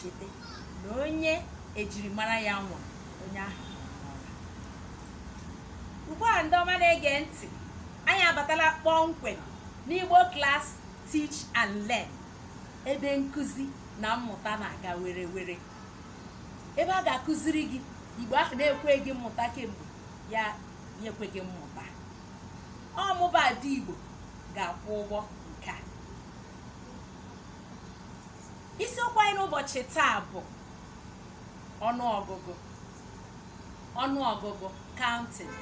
cheta na onye ejirimara ya nwa onye ahụ ugbu a ndị ọma na-ege ntị anyị abatala kpọmkwem n'igbo class teach and learn ebe nkụzi na mmụta na-aga were were ebe a ga-akụziri gị igbo ahụ na-ekweghị mmụta kemgbe ya ekwe gị mmụta ọ mụ bụ ada igbo ga-akwọ ụgbọ nke a isiokwu anyị n'ụbọchị taa bụ ọnụọgụgụ ọnụọgụgụ counting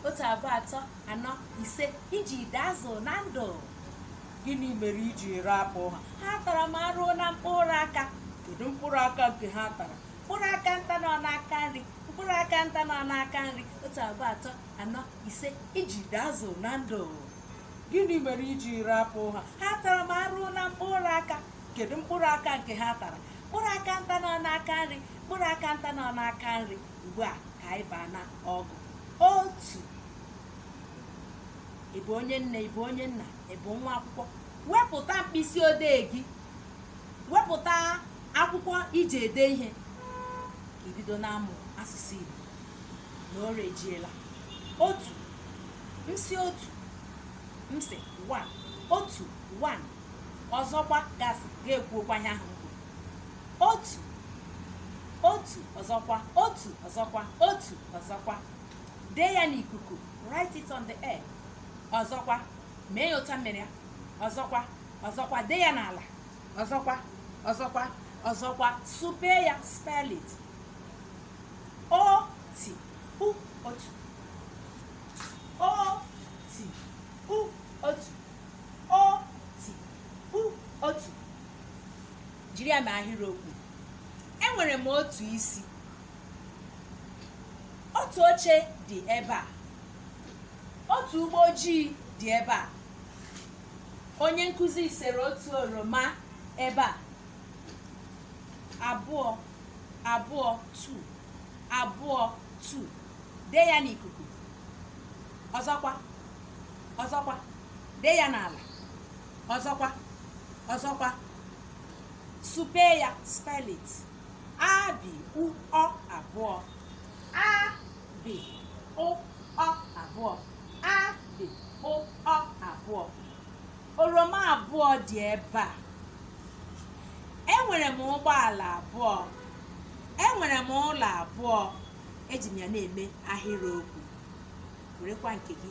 otu abụọ atọ anọ ise ijide azụ na ndụ gịnị mere iji rapụ ha ha tara m arụ na mkpụrụ aka kedu mkpụrụ aka nke ha tara mkpụrụ aka nta nọ n'aka nri mkpụrụ aka nta nọ n'aka nri otu abụọ atọ anọ ise ijide azụ na ndụ gịnị mere iji rapụ ha ha tara m arụ na mkpụrụ aka kedu mkpụrụ aka nke ha tara mkpụrụ aka nta nọ n'aka nri mkpụrụ aka nta nọ n'aka nri ugbu a ka anyị baa na ọgụ otu ị bụ onye nne ị bụ onye nna ị bụ nwa akwụkwọ wepụta mkpịsị odee gị wepụta akwụkwọ iji ede ihe ka ibido na-amụ asụsụ Igbo na o rejiela otu m sị otu m sị one otu one ọzọkwa gasị gị ekwuokwa ihe ahụ m kwuru otu otu ọzọkwa otu ọzọkwa otu ọzọkwa dee ya n'ikuku write it on the air ọzọkwa mee ya otu a m mere ya ọzọkwa ọzọkwa dee ya n'ala ọzọkwa ọzọkwa ọzọkwa supee ya spell it O, t, u, otu. O, t, u, otu. O, t, u, otu. Jiri ya mee ahịrịokwu. Enwere m otu isi. Otu oche dị ebe a. Otu ụgbọ ojii dị ebe a. Onye nkụzi sere otu oroma ebe a. Abụọ, abụọ tu abụọ tu dee ya n'ikuku ọzọkwa ọzọkwa dee ya n'ala ọzọkwa ọzọkwa supe ya spell it a bi u ọ abụọ a bi o ọ abụọ a bi o ọ abụọ oroma abụọ dị ebe a enwere m ụgbọala abụọ enwere m ụlọ abụọ eji m ya na-eme ahịrịokwu werekwa nke gị